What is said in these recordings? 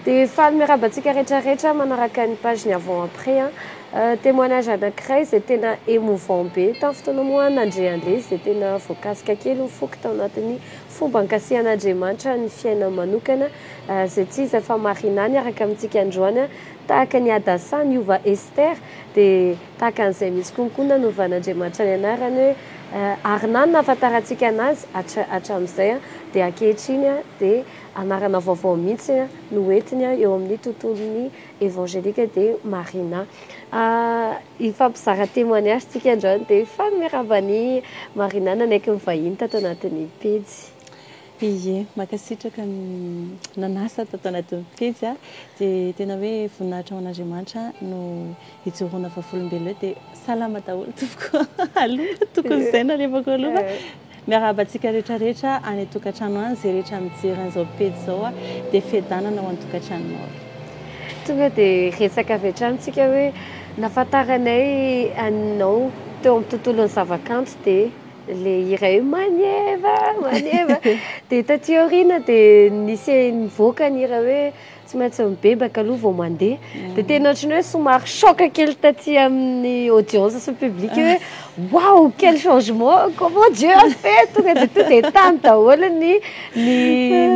Dia faly miarahaba antsika rehetra rehetra manaraka ny page ny avant après an. Euh, témoignage anankiray izay tena émouvant be. Tamin'ny fotoana moa nandre an'ilay izy dia tena voakasika kely ny foko tao anatin'ny fomba ankasihan'Andriamanitra ny fiainany manokana euh, izay tsy iza fa Marina niaraka amintsika androany an. Tahaka ny Hadassa niova Esther dia tahaka an'izay mihitsy koa ny koa nanovan'Andriamanitra ny anarany hoe euh, Arna no nahafantarantsika anazy hatra hatramin'izay an, dia ankehitriny an dia anarana vaovao mihitsy no ho entiny eo amin'ny tontolon'ny evangelika dia Marina. Hifampizara témoignage tsika androany dia faly miarahaba an'i Marina nanaiky ny vahiny tato anatin'ny pejy. Ie, mankasitraka nanasa tato anatin'ny pejy a. Dia tena hoe voninahitra ho an'Andriamanitra no ijoroana vavolombelona eo dia salama daholo tompoko aloha, tokony izay nalevako aloha. Miarahaba antsika rehetra rehetra any an-tokantrano any, izay rehetra mijery an'izao pejy izao dia fiadanana ho an-tokantranonao e. Tonga dia resaka avy hatrany tsika hoe nafantaranay anao teo amin'ny tontolon'ny zavakanto dia ilay hira hoe maneva maneva dia taty aoriana dia nisy nivoaka ny hira hoe Tsy maintsy mibebaka aloha vao mandeha. Dia tena ohatran'ny hoe somary choc kely taty amin'ny audience sy ny public hoe wow quel changement comment Dieu a fait tonga dia tonga dia tany daholo ny ny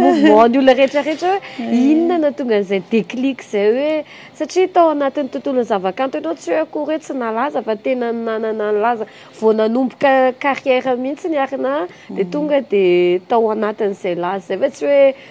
mouvement ny olona rehetra rehetra hoe inona no nahatonga an'izay déclic izay hoe satria tao anatin'ny tontolon'ny zavakanto ianao tsy hoe akory hoe tsy nalaza fa tena nanana ny lazany vao nanomboka carrière mihitsy ny Arnah dia tonga dia tao anatin'izay laza izay fa tsy hoe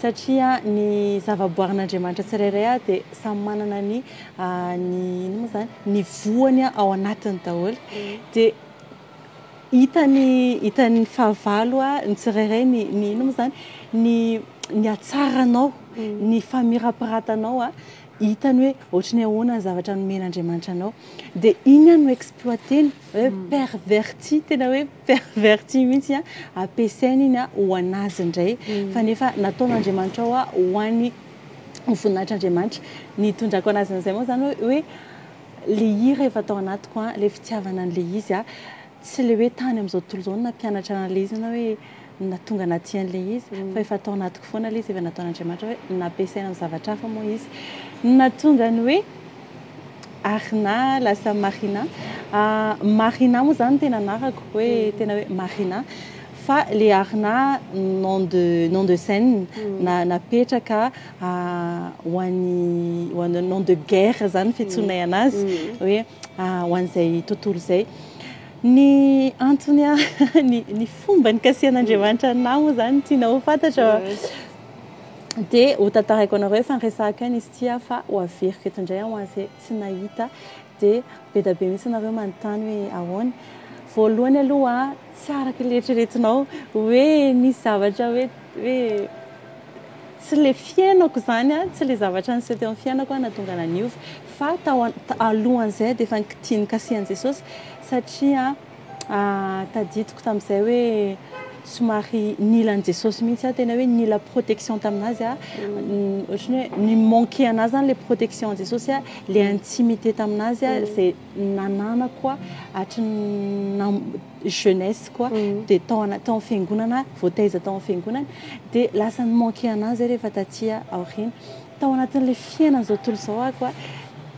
satria ny zavaboarin'Andriamanitra tsirairay ary dia samy manana ny ny inona moa izany ny voany ao anatiny daholo dia hitany hitan'ny fahavalo ny tsirairay ny ny inona moa izany ny ny hatsaranao ny famirapiratanao a hitany hoe ohatry ny ahoana ny zavatra nomen'Andriamanitra anao dia iny ihany no exploiter-ny hoe perverti tena hoe Perverti mihitsy a, ampiasaina iny a ho an'azy indray fa nefa nataon'Andriamanitra hoa ho an'ny ho voninahitr'Andriamanitra, ny itondrako an'azy an'izay moa izany hoe hoe le hira efa tao anatiko a, le fitiavana an'le izy a, tsy le hoe tany amin'izao tontolo izao no nampianatra an'le izy na hoe na tonga anaty an'ilay izy fa efa tao anatiko foana ilay izy efa nataon'Andriamanitra hoe nampiasaina amin'ny zavatra hafa moa izy na tonga ny hoe Arina lasa Marina ah, Marina moa zany tena anarako hoe mm. tena hoe Marina fa le Arina nom de nom de scène mm. na napetraka ah, ho an'ny nom de guerre zany fitsoinay mm. anazy hoe Ah, ho an'izay tontolo izay. Ny antony a, ny, ny fomba nikasihan'Andriamanitra anao moa izany tiana ho fantatra. Mm. Dia ho tantaraiko anareo efa niresahako ihany izy ity aho fa ho averiko eto indray ho an'izay tsy nahita. Dia be dia be mihitsy ianareo manontany hoe ahoana. Voalohany aloha, tsy araka ilay eritreretinao hoe nisy zavatra hoe hoe Tsy le fiainako izany an, tsy le zavatra niseho teo amin'ny fiainako an nahatonga anah niova fa tao an alohan'izay dia efa nikitia nikasiha an'i Jesosy satria tadidiko tamin'izay hoe somary nila an'i Jesosy mihitsy aho, tena hoe nila protection tamin'azy aho, ohatran'ny hoe ni manquer anah izany ilay protection an'i Jesosy an, ilay intimité tamin'azy an, izay nananako hatry ny jeunesse quoi dia tao anaty tao amin'ny fiangonana voataiza tao amin'ny fiangonana dia lasa ny manquer anah zay rehefa taty aoriana tao anatin'ilay fiainana izao tontolo izao aho quoi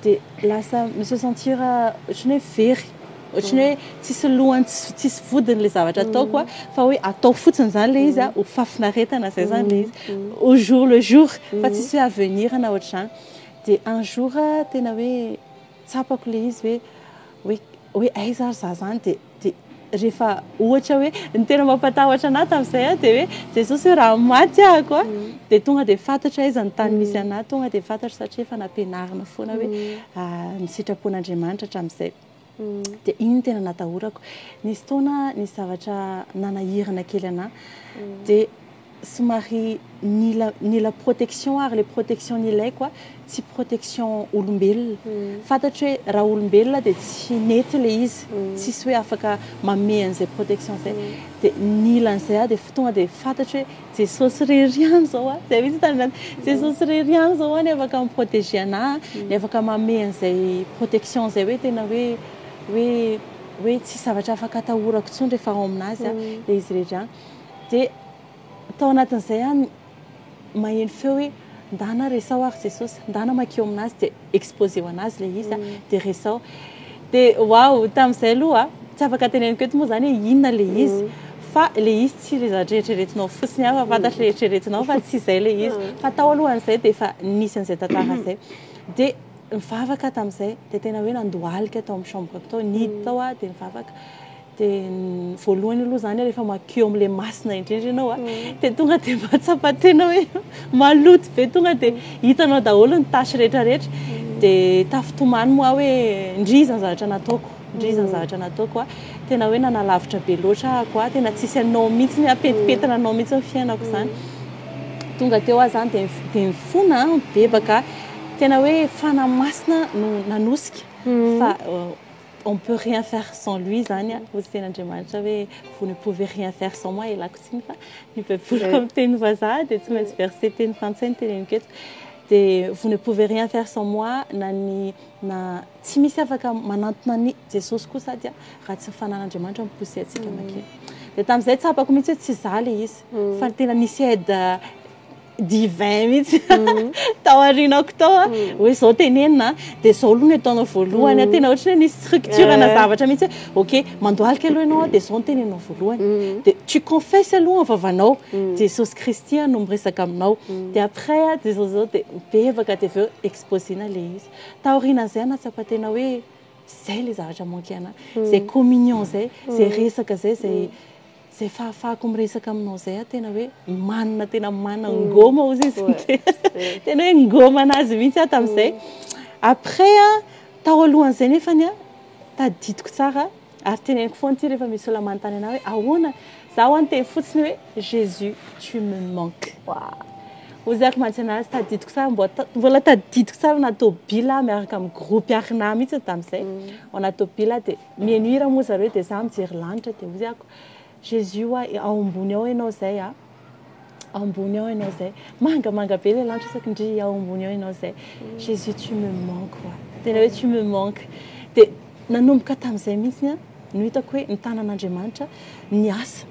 dia lasa mi se sentir ohatran'ny hoe very ohatran'ny hoe tsisy lohany tsisy tsisy vodiny ilay zavatra ataoko a fa hoe atao fotsiny izany ilay izy a ho fafinaretana izay izany ilay izy au jour le jour fa tsisy hoe avenir na ohatr'izany dia un jour tena hoe tsapako ilay izy hoe hoe hoe aiza ary za zany dia dia rehefa ohatra hoe ny tena mampatahotra anah tamin'izay a dia hoe Jesosy hoe raha maty ahako a dia tonga dia fantatra aiza ny tany misy anah tonga dia fantatra satria efa nampianarina foana hoe ny sitrapon'Andriamanitra hatramin'izay dia iny tena natahorako nisy taona nisy zavatra nanahirana kely anah dia Somary nila nila protection ary le protection nilaiko a tsy protection olombelona. Fantatro hoe raha olombelona dia tsy nety le izy, tsisy hoe afaka manome an'izay protection zay. Dia nila an'izay aho dia f tonga dia fantatro hoe Jesosy irery ihany zao a, zay mihitsy tandrina Jesosy irery ihany zao a ny afaka mi-proteger anah a, ny afaka manome an'izay protection zay hoe tena hoe hoe hoe tsisy zavatra afaka atahorako intsony rehefa ao aminazy aho, le izy irery ihany. Dia tao anatin'izay ihany maheno feo hoe ndana resaho ary Jesosy, ndana makeo amin'Azy dia exposeo an'Azy ilay izy dia resaho. Dia waouh, tamin'izay aloha tsy afaka teneniko eto moa izany hoe inona ilay izy fa ilay izy tsy ilay zavatra eritreretinao fotsiny aho fa fantatro ilay eritreretinao fa tsy izay ilay izy. Fa tao alohan'izay dia efa nisy an'izay tantara izay. Dia nivavaka aho tamin'izay, dia tena hoe nandohalika tao amin'ny chambre-ko tao, nihidy tao aho dia nivavaka. Dia ny voalohany aloha izany rehefa mankeo amin'ilay masina indrindra ianao dia tonga dia mahatsapa tena hoe maloto be, tonga dia hitanao daholo ny tâche rehetrarehetra. Dia tafintomany moa aho hoe ndry iza ny zavatra nataoko, ndry iza ny zavatra nataoko. Tena hoe nanalavitra be loatra aho, tena tsisy anao mihitsy, apetipetina anao mihitsy ny fiainako izany. Tonga teo aho izany dia dia nifona, nibebaka, tena hoe fanahy masina no nanosika fa on peut rien faire sans lui zany a hozy tena Andriamanitra hoe vous ne pouvez rien faire sans moi ialako tsiny fa ny baiboly eh. amin'ny teny vazaha dia tsy maintsy verset teny frantsay ny teneniko eto dia vous ne pouvez rien faire sans moi na ny na tsy misy afaka manantona ny Jesosy koa sady a raha tsy fanan'Andriamanitra mipousse atsika mm. makina dia tamin'izay tsapako mihitsy hoe tsy zale izy mm. fa tena nisy aide divin mihitsy tao aorianako tao a hoe zao tenenina dia zao aloha no ataonao voalohany tena ohatry ny structure na zavatra mihitsy hoe ok mandohalika aloha ianao dia zao no tenenina voalohany dia tu confesse aloha ny vavanao Jesosy Kristy no miresaka aminao dia après a dia zao zao dia mibebaka dia avy eo exposena ilay izy taorianan'izay aho nahatsapa tena hoe zay ilay zavatra manquer anahy izay communion izay izay resaka izay izay Zay fahafahako miresaka aminao zay aho tena hoe manana tena manana ngoma ozy izy tena hoe ngoma anazy mihitsy aho tamin'izay après tao alohan'izay nefany a tadidiko tsara ary teneniko foana ity rehefa misy olona manontany anah hoe ahoana za ho any teny fotsiny hoe Jésus tu me manque ozy ako mantsy anazy tadidiko tsara mbola mbola tadidiko tsara na tobila miaraka amin'ny groupe arina mihitsy tamin'izay mm. ao anaty tobila dia Mihaino hira moa zareo dia za mijery lanitra dia hoy ako Jésus oa e ao ambony ao enao zay a ao ambony ao enao zay manga manga be le lanitra saky ndrii ao ambony ao enao zay Jésus tu me manques oa tena hoe tu me manques dia nanomboka tamizay mihitsy no hitako hoe ny tanan'Andriamanitra niasa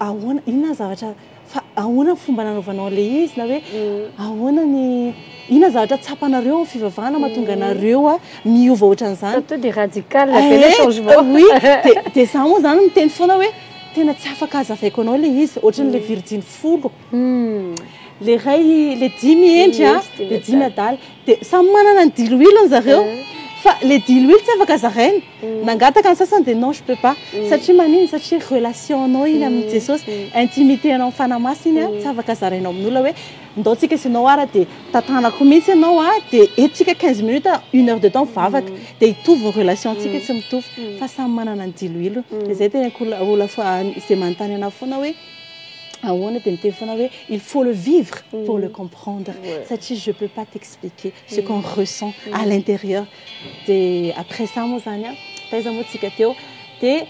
ahoana inona zavatra fa ahoana ny fomba nanaovanao an'ilay izy na hoe ahoana ny inona zavatra tsapanareo amin'ny fivavahana mahatonga anareo a miova ohatran'izany to dia radical be le eh, changement oui dia dia za moa zany miteny foana hoe tena tsy afaka azavaiko anao ilay izy ohatran'ilay mm. virjiny folo le ray le dimy hendry a le dimy adala dia samy manana ny diloilony zareo fa le diloilo tsy afaka zaraina nangataka ny sasany dia non je peux pas satria manino satria relation anao iny amin'i jesosy intimité anao amin'ny fanahy masina iny a tsy afaka zaraina amin'olona hoe ndao tsika sy anao ara dia tantanako mihitsy ianao a dia eto tsika quinze minutes a une heure de temps mivavaka dia hitovy ny relation antsika tsy mitovy fa samy manana ny diloilony dia izay tena koa olona fa izay manontany anah foana hoe ahoana dia miteny foana hoe il faut le vivre pour le comprendre satria je peux pas t'expliquer ce qu'on ressent à l'intérieur dia après ça moa zany an taiza moa tsika teo dia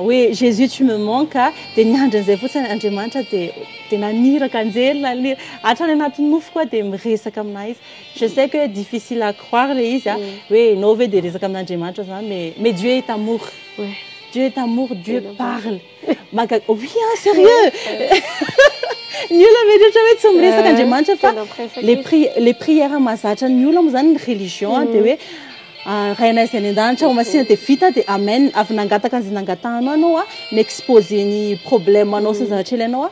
hoe Jésus tu me manques dia niandry an'izay fotsiny Andriamanitra dia dia naniraka anjely naniraka hatrany anatin'ny nofoko dia miresaka aminà izy je sais que difficile à croire le izy an hoe ianao ve dia resaka amin'Andriamanitra zany mais mais Dieu est amour Dieu est amour Dieu parle Maga- oui hein, sérieux Ny olona mety ohatra hoe tsy miresaka Andriamanitra fa Tena miresaka les, izy. pri- les prières mahazatra ny olona moa izany ny religion a, dia hoe ah, Rainay izay any an-danitra ao masina dia vita dia amen, avy nangataka an'izay nangatahanao ianao a, mi-exposer ny problème-nao sy ny zavatra ilainao a,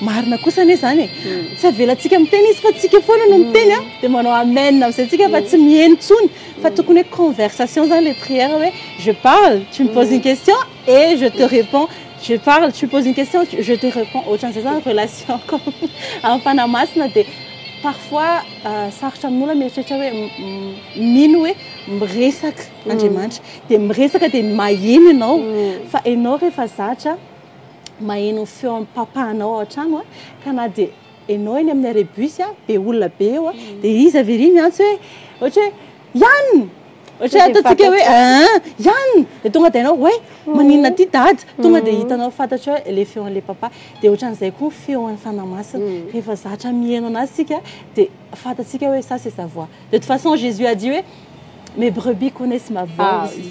Marina kosa anie izany e! Tsy avelantsika miteny izy fa tsika foana no miteny a! Dia manao amen amin'izay tsika fa tsy miheno intsony. Fa tokony hoe conversation izany ilay prière hoe je parle, tu me poses une question et je te réponds, je parle, tu poses une question, je te réponds. Ohatran'izay izany relation amin'ny Fanahy Masina dia parfois sarotra amin'olona mieritreritra hoe mino hoe miresaka Andriamanitra. Dia miresaka dia maheno ianao fa ianao rehefa zatra. maheno ny feon'ny papanao ao an-trano ka na dia ianao eny amin'ny arrêt bus be olona be eo dia izy avy ery miantso hoe ohatra hoe Yann ohatra hoe ataontsika hoe Yann dia tonga dia ianao hoe maninona aty dada tonga dia hitanao fantatrao hoe ilay feon'ilay papa dia ohatran'izay koa ny feon'ny Fanahy Masina rehefa zatra miheno an'azy isika dia fantatsika hoe ça c'est sa voix de toute façon Jésus a dit hoe Mes brebis connaissent ma voix ah, aussi.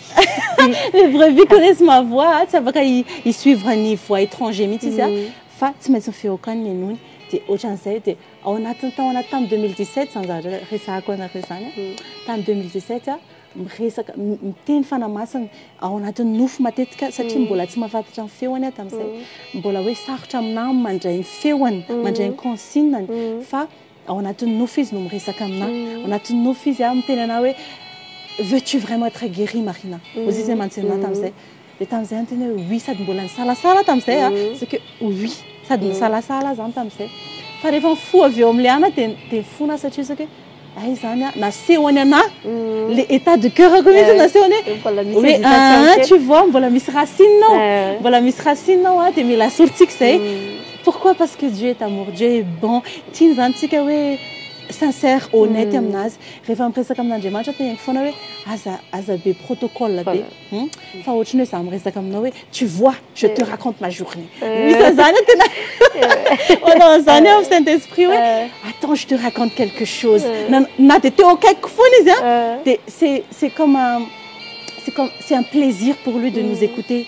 Oui. Mes brebis connaissent ma voix. Ah, tsy afaka hi-suivre ny voix étranger mihitsy izy. Ah. Mm. Fa tsy maintsy ny feokany ny nony. Dia ohatran'izay dia ao anatin'ny tao anaty tamin'ny 2017 izany zavatra resahako anareo izany. Ah. Mm. Tamin'ny 2017 ah, miresaka miteny fanamasina ao anatin'ny nofo matetika satria mm. mbola tsy mafatatra ny feony ah, tamin'izay. Mm. Mbola hoe sarotra amin'ahy mandray ny feony, mandray ny consigne fa Ao anatin'ny nofo izy no miresaka aminà. Ao anatin'ny nofo izy aho miteny anà hoe veux tu vraiment être guéri Marina? Hoy izy hoe mantsy aminà tamin'izay. Dia tamin'izay aho niteny hoe oui sady mbola nisalasala aho tamin'izay a, c'est que oui sady nisalasala aho izany tamin'izay. Fa rehefa mifoha avy eo amin'ilay anà dia dia fona aho satria c'est que hay izany a, nasehony anà ilay état de coeur-ko mihitsy no nasehony hoe hoe aa tu vois mbola misy racine ao, mbola misy racine ao a, dia mila sorintsika izay. Pourquoi parce que Dieu est amour, Dieu est bon, tiany zany tsika hoe sincère, honnête aminazy, rehefa miresaka amin'Andriamanitra teneninko foana hoe aza aza be protocole be hum fa ohatran'ny hoe za miresaka aminao hoe tu vois je te raconte ma journée misy an'zany hoe tena manao an'zany aho saint esprit hoe attends je te raconte quelque chose na na de teo akaikiko foana izy a de c'est c'est comme un c'est comme c'est un plaisir pour lui de nous écouter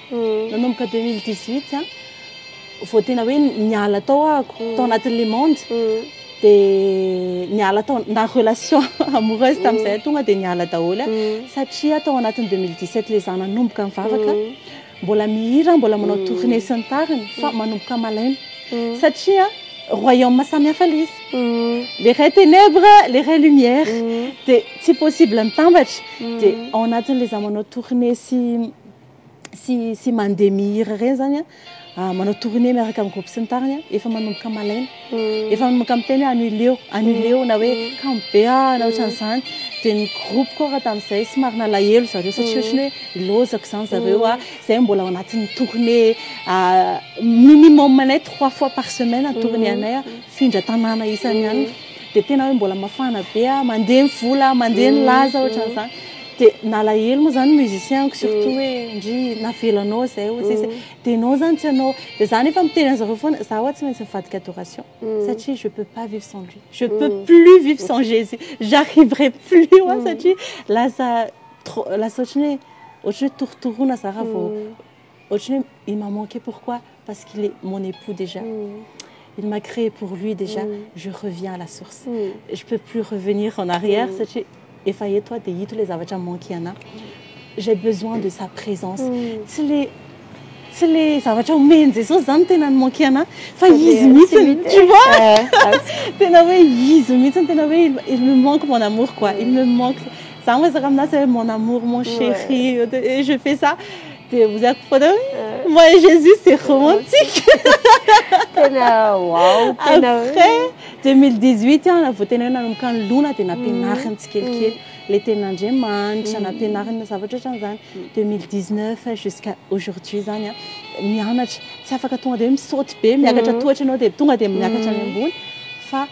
Nanomboka deux mille dix huit vao tena hoe niala tao ahako tao anatin'ny le monde dia niala tao na relation amoureuse tamin'izay tonga dia niala daholo satria tao anatin'ny deux mille dix sept ilay izaho nanomboka mivavaka mbola mihira mbola manao tournée sy ny tariny fa manomboka malaina satria royaume samy hafa ilay izy le ray ténèbres le ray lumière dia tsy possible mitambatra dia ao anatin'ilay izaho manao tournée sy sy sy mandeha mihira ireny zany a manao tournée miaraka amin'ny groupe sy ny tariny efa manomboka malaina hmm. efa manomboka miteny hoe anuleo anuleo na hoe hmm. kambe a na ohatran'izany dia ny groupe koa raha tamin'izay sy marina lahelo zareo satria hmm. ohatrany hoe lozako izany zareo a izay mbola ao anatin'ny tournée minimum anay trois fois par semaine tournée anay a findra tanàna isan'ny any dia tena hoe mbola mafana be aho, mandeha ny vola, mandeha ny laza, ohatran'izany. Dia nalahelo moa izany ny musicien-ko, surtout hoe ndry navelanao izay, hoy izy. Dia ianao izany tsy hanao. Dia izaho anefa miteny an'izareo foana, izaho ho'a tsy maintsy mivadika adoration, satria je peux pas vivre sans lui, je peux plus vivre sans Jésus, j'arriverai plus ho'a satria lasa trop, lasa ohatran'ny hoe, ohatran'ny hoe torotoroana izaho raha vao, Ohatran'ny hoe il m'a manqué pourquoi? Parce qu'il est mon époux déjà. Il m'a créé pour lui déjà. Je reviens à la source. Je peux plus revenir en arrière satria efa eto aho dia ito ilay zavatra mi-manquer anahy. J'ai besoin de sa présence. Tsy ilay tsy ilay zavatra omen'i Jesosy izany tena ni-manquer anahy fa izy mihitsy. Tu vois? Tena hoe izy mihitsy, tena hoe il me manque mon amour quoi. Il me manque. Za miresaka aminazy hoe mon amour, mon chéri, et je fais ça. Dia ozy ako foana hoe moi et Jésus c'est romantique. Tena wow, tena hoe. Après 2018 an, vao tena hoe nanomboka nilona dia nampianariny tsikelikely ilay tenin'Andriamanitra, nampianariny ny zavatra ohatran'izany. 2019 jusqu'à aujourd'hui izany an, mianatra. Tsy afaka tonga dia hoe misaoty be, miakatra tohatra ianao dia tonga dia miakatra any ambony fa.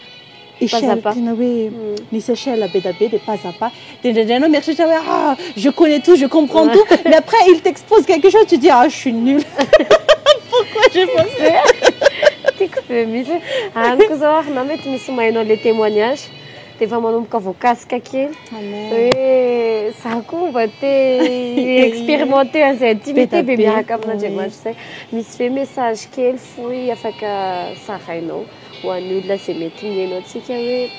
Echelle tena hoe misy echelle be dia be dia pas à pas dia indraindray ianao mieritreritra hoe ah je connais tout je comprends tout mais après il t'expose quelque chose tu dis ah je suis nul pourquoi j'ai pas fait Tiako be mihitsy any koa izao ary na mety misy omainao ilay témoignage dia efa manomboka voakasika kely hoe za koa mba te expérimenter an'izay intimité be miaraka amin'Andriamanitra izay misy ve message kely fohy afaka zarainao ho an'ny olona izay mety mihaino antsika hoe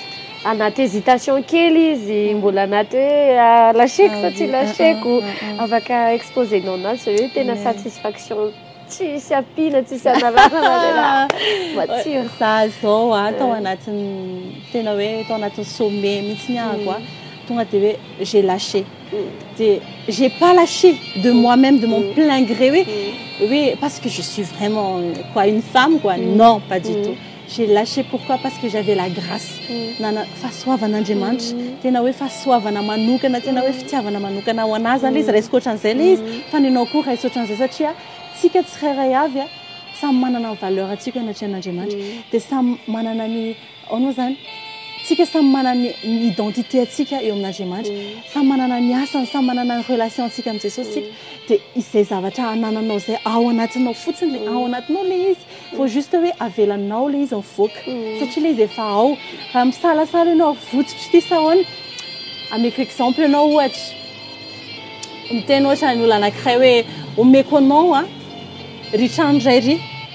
anaty hésitation kely izy mbola anaty hoe lacheko sa tsy lacheko afaka exposer nao anazy hoe tena satisfaction tsisy ampiana tsisy analanana matsiro za zao a tao anatin'ny tena hoe tao anatin'ny sommet mihitsy ny ahako a tonga de hoe j'ai lâché dia j'ai pas lâché de moi même de mon plein gré hoe hoe parce que je suis vraiment quoi une femme quoi non pas du tout j'ai lâché pourquoi parce que j'avais la grâce nana fahasoavan'Andriamanitra tena hoe fahasoavana manokana tena hoe fitiavana manokana ho anà zany le izy raisiko ohatran'izay le izy fa ny anao koa raisiko ohatran'izay satria tsika tsirairay avy a samy manana ny valeur antsika anatrehan'Andriamanitra dia samy manana ny Aono zany? Tsika samy manana ny identité antsika eo amin'Andriamanitra. Mm. Samy manana ny asany, samy manana ny relation antsika amin'i Jesosy tsika. Mm. Dia izay zavatra anananao izay ao anatinao fotsiny le mm. ao anatinao le izy. Vao mm. juste hoe avelanao le izy mivoaka. Mm. Satria le izy efa ao. Raha misalasala ianao vototry ty sahoana. Ameko exemple ianao ohatra. Miteny ohatra ny olona anankiray hoe omeko anao a. Ry trano iray ry.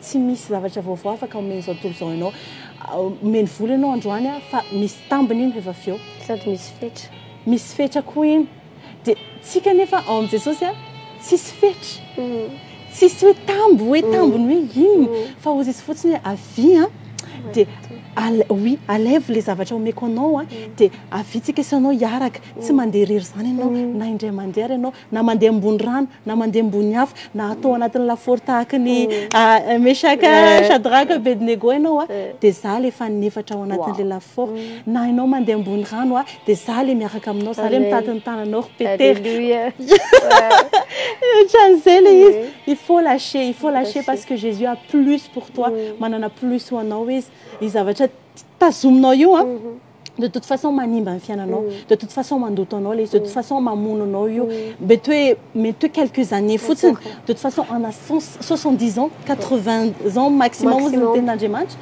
Tsy misy zavatra vaovao afaka omeny izao tontolo izao ianao. Omeny vola ianao androany aho fa misy tambiny iny rehefa avy eo. Sady misy fetra. Misy fetra koa iny. Dia tsika anefa ao amin'i Jesosy a, tsisy fetra. Tsisy hoe tambo, hoe tambiny hoe inona. Fa ozy izy fotsiny hoe avia a, dia oui, alaivo ilay zavatra omeko anao a, dia avia tsika sy anao hiaraka. Tsy mandeha irery izany ianao na indray mandeha ary ianao. na mandeha ambony rano, na mandeha ambony afo, na atao ao anatin'ny lafaoro tahaka ny Meshaka, Shadraka, Abednego ianao dia izaho ilay faninefatra ao anatin'ilay lafaoro. Na ianao mandeha ambony rano dia izaho ilay miaraka aminao, izaho ilay mitady ny tananao ry Petera. Alléluia. Ohatran'izay ilay izy. Il faut lâcher, il faut lâcher parce que Jésus a plus pour toi, manana plus ho anao Izy. Io zavatra tazominao io an. de toute façon manimba ny fiainanao mm. de toute façon mandoto anao le izy de toute mm. façon mamono anao io mm. mety hoe mety hoe quelques années fotsiny de toute façon ana 70 ans 80 ans maximum ozy ny tenin'andriamanitra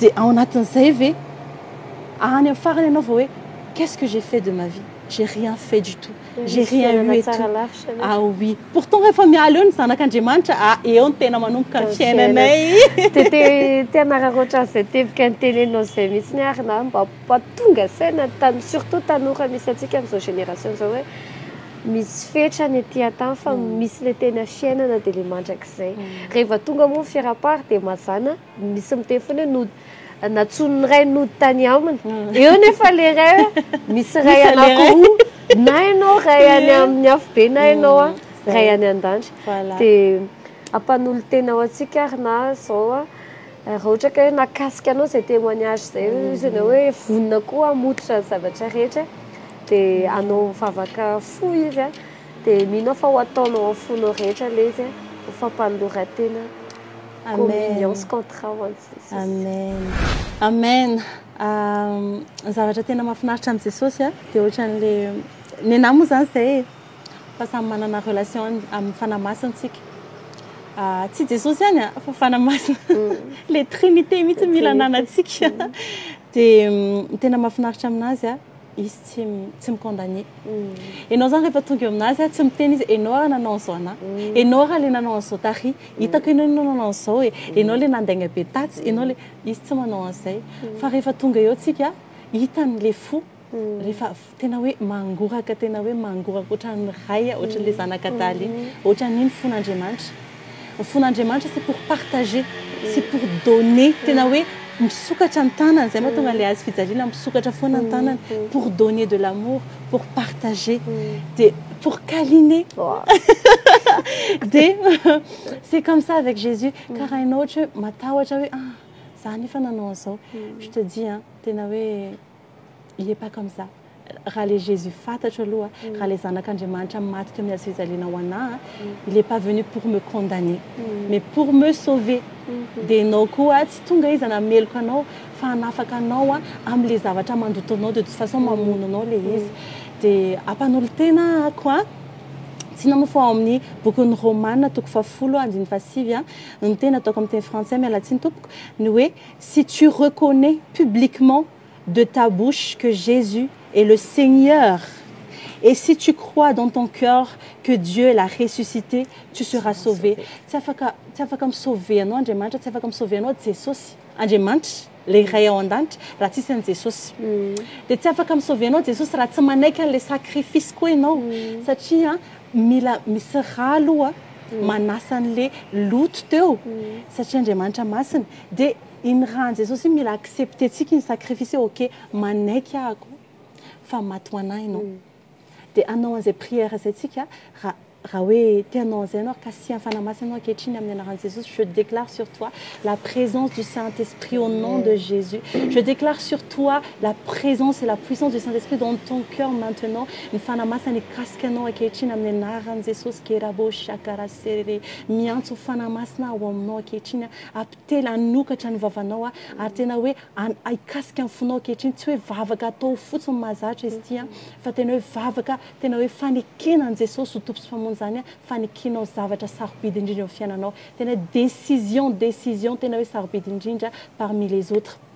de ao anatin'izay ve any amin'ny farany ianao vao hoe qu'est-ce que j'ai fait de ma vie j'ai rien fait du tout J'ai rien eu et tout. Ah oui. Pourtant rehefa miala eo ny zanak'Andriamanitra, ah eo ny tena manomboka ny fiainanay. Dia te te hanararaotra an'izay teboka niteneninao izay mihitsy ny ary na mba tonga saina tan- surtout tanora misy antsika amin'izao génération izao hoe misy fetra any aty an-tany fa misy ilay tena fiainana dia ilay mandrakizay. Rehefa tonga moa ny fiaraha-pary dia mazàna. Misy miteny foana hoe nody, nantsoin'ny ray nody tany aminy. Eo anefa ilay ray misy ray anankiroa, na ianao ray any amin'ny afobe na ianao mm, ray any an-danitra. Dia ampanolo-tena ho antsika ary na izao a, raha ohatra ka hoe nakasika anao izay témoignage izay, mm. izy ianao hoe vonona koa hamototra ny zavatra rehetra, dia anao mivavaka fo izy a, dia mino aho fa ho ataonao amin'ny fonao rehetra ilay izy a, ho fampanoloran-tena. Amen. Amen. Amen. Ny zavatra tena mahafinaritra an'i Jesosy dia ohatran'ilay nenahy moa izany izay e. Fa samy manana relation amin'ny fanahy masina isika. Tsy Jesosy ihany a, fa fanahy masina. Ilay trinité mihitsy mila ananantsika. Dia ny tena mahafinaritra aminazy izy tsy tsy mi condamner enao zany rehefa tonga eo aminazy a tsy miteny izy enao ary nanao an'izao anah enao ary le nanao an'izao tary hitako enao no nanao an'izao e enao le nandainga be tatsy enao le izy tsy manao an'izay fa rehefa tonga eo tsika hitany le fo rehefa tena hoe mangoraka tena hoe mangoraka ohatran'ny ray a ohatran'le zanak'adala iny ohatran'iny fon'Andriamanitra Ny fon'Andriamanitra c'est pour partager, c'est pour donner, tena hoe misokatra ny tanany, izay mahatonga an'ilay hazo fijaliana misokatra foana ny tanany, pour donner de l'amour, pour partager, dia pour câliner, dia c'est comme ça avec Jésus, ka raha ianao ohatra hoe matahotra hoe ah, za anefa nanao an'izao, je te dis an, tena hoe. Il est pas comme ça. Raha le Jesus fatatro aloha, raha le zanak'Andriamanitra maty teo amin'ny hazo fijaliana ho anà, il est pas venu pour me condamner, mais pour me sauver. Dia ianao koa tsy tonga izy hanameloka anao fa hanafaka anao amin'ilay zavatra mandoto anao, de toute façon mamono anao ilay izy. Dia ampanolo-tena ako an! Tsinona moa fa ao amin'ny bokin'ny Romana toko fahafolo andininy fahasivy no teny ataoko amin'ny teny frantsay, miala tsiny tompoko, ny hoe Si tu reconnais publiquement de ta bouche que Jesus est le Seigneur et si tu crois dans ton coeur que Dieu l'a ressuscité tu seras sauvé tsy afaka tsy afaka mi-sauver anao Andriamanitra tsy afaka mi-sauver anao Jesosy Andriamanitra le Ray ao an-danitra raha tsisy an'i Jesosy dia tsy afaka mi-sauver anao Jesosy raha tsy manaiky an'ilay sacrifice koa ianao satria mila misy rà aloha manasa an'ilay loto teo satria Andriamanitra masina Dia iny ra an'i Jesosy iny mila accepter-tsika iny sacrifice hoe ok manaiky ahako fa maty ho anah ianao. Dia hanao an'izay prière izay tsika ra raha hoe te hanao an'izay ianao ary kasihan'ny Fanahy Masina ianao ankehitriny amin'ny anaran'i Jesosy je déclare sur toi la présence du Saint Esprit au nom de Jésus je déclare sur toi la présence et la puissance du Saint Esprit dans ton cœur maintenant ny Fanahy Masina nikasika anao ankehitriny amin'ny anaran'i Jesosy kerabo shakara serere miantso Fanahy Masina aho ao aminao ankehitriny aho Apitely hanokatra ny vavanao aho ary tena hoe hikasika ny fonao ankehitriny, tsy hoe vavaka atao fotsiny mahazatra izy ity fa tena hoe vavaka tena hoe fanekena an'i Jesosy ho Tompo sy Mpamonjy izany an, fanekenao zavatra sarobidy indrindra eo amin'ny fiainanao, tena hoe décision, décision tena hoe sarobidy indrindra parmi les autres.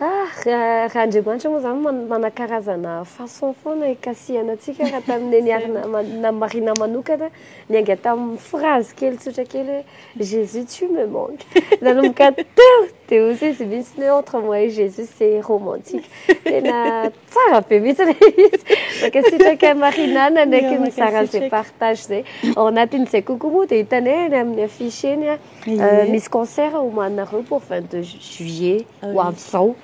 Ah! Raha Andriamanitra moa izany manakarazana façon foana hikasihana antsika raha tamin'ny neniharina na Marina manokana niainga tamin'ny phrase kely tsotra kely hoe Jésus tu me manques. Nanomboka teo dia hoy izy mihitsy hoe entre moi et Jésus c'est romantique. Tena Tsara be mihitsy ilay izy. Mankasitraka Marina nanaiky nizara an'izay partage izay. Ao anatin'izay kokoa moa dia hitanay any amin'ny affiche eny ah, euh, misy concert homanareo pour 22 juillet ah ho avy izao.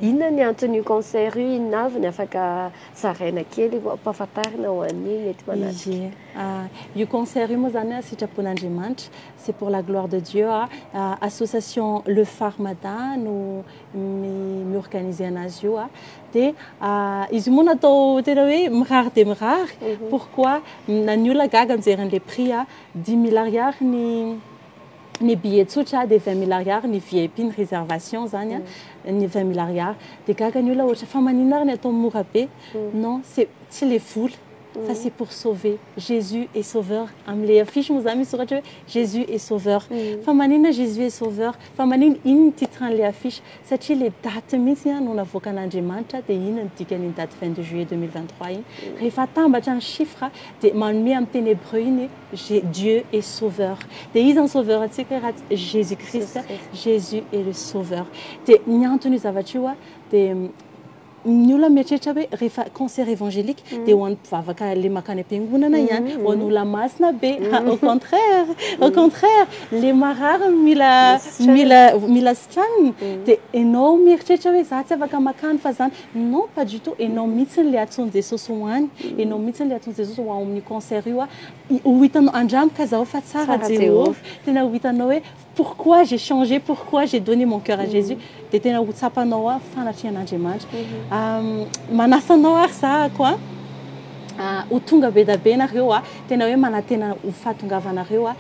Inona ny anton'io concert io, inona avy ny afaka zaraina kely mba ampahafantarina ho an'ny mety manatrika. Ah, io concert io moa izany ah, sitrapon'Andriamanitra, c'est pour la gloire de Dieu ah, ah association Le Phare Mada no mi-organiser anazy io a dia izy moa natao tena hoe mirary dia mirary mhm. pourquoi na ny olona gaga mijery an'le prix a dix mille ariary ny ny billet tsotra dia vingt mille ariary ny vip ny réservation zany a mhm. ny vingt mille ariary dia gaga ny olona ohatra fa maninona ary ny atao mora be mhm. non c'est tsy le vola fa c'est pour sauver Jesus est sauveur amle affiche moa zany misy soratra hoe Jesus est sauveur fa maninona Jesus est sauveur fa maninona inn ny titre anle affiche satria le date mihitsy an no navoakan'Andriamanitra dia inn no dikan'iny date vingt deux juillet deux mille vingt trois iny rehefa atambatra ny chiffre dia manome amin'ny teny hebreu iny hoe Dieu est sauveur dia iza ny sauveur antsika hoe raha tsy Jesus Christ Jesus est le sauveur dia ny anton'io zavatra io an dia Ny olona mieritreritra hoe rehefa concert evangelique dia ho an'ny mpivavaka ilay mankany am-piangonana ihany, ho an'ny olona masina be. Au contraire, au contraire, ilay marary no mila mila mila sitranina. Dia ianao mieritreritra hoe izaho tsy afaka mankany fa izany. Non, pas du tout, ianao mihitsy ilay antsoin'i Jesosy ho any, ianao mihitsy ilay antsoin'i Jesosy ho ao amin'io concert io. Ho hitanao, andramo ka izao fa tsara Jehovah, tena ho hitanao hoe. Pourquoi j'ai changé, pourquoi j'ai donné mon cœur à Jesus dia tena ho tsapanao ao fanatrehan'Andriamanitra. Manasa anao ary zahako a, ho tonga be dia be nareo a, tena hoe manantena ho fahatongavanareo a,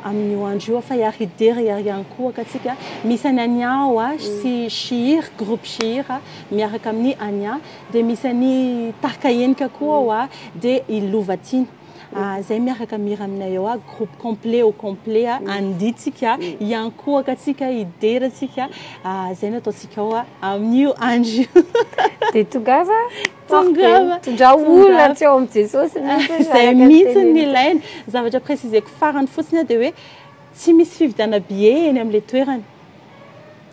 amin'io andro io fa hiary hidera hiary hiankohoka antsika. Misy an'i Ania ao a, sy Shihir, groupe Shihir a, miaraka amin'i Ania, dia misy an'i Tarika Henika koa ao a, dia i Lovatiana. Ah zay miaraka mihira aminay eo ah groupe complet au complet ah andihy tsika hiankohaka tsika hidera tsika ah zay no ataontsika ao ah amin'io andro io dia tongava tongava tondra olona tsy ao amin'i Jesosy mihitsy zay mihitsy ny ilaina zavatra préciseko farany fotsiny ah dia hoe tsy misy fividiana billet eny amin'ilay toerana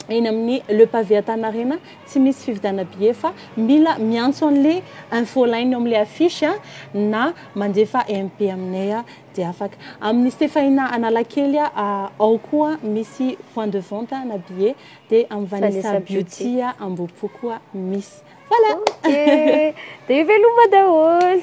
eny amin'ny Le Pavé Antanarena, tsy misy fividianana billet fa mila miantso an'le info line eo amin'le affiche na mandefa MP aminay dia afaka. Amin'ny Stefahina Analakely ao koa misy point de vente na billet dia amin'ny Vanessa Beauty Ambohipo koa misy. Voilà! Dia veloma daholo!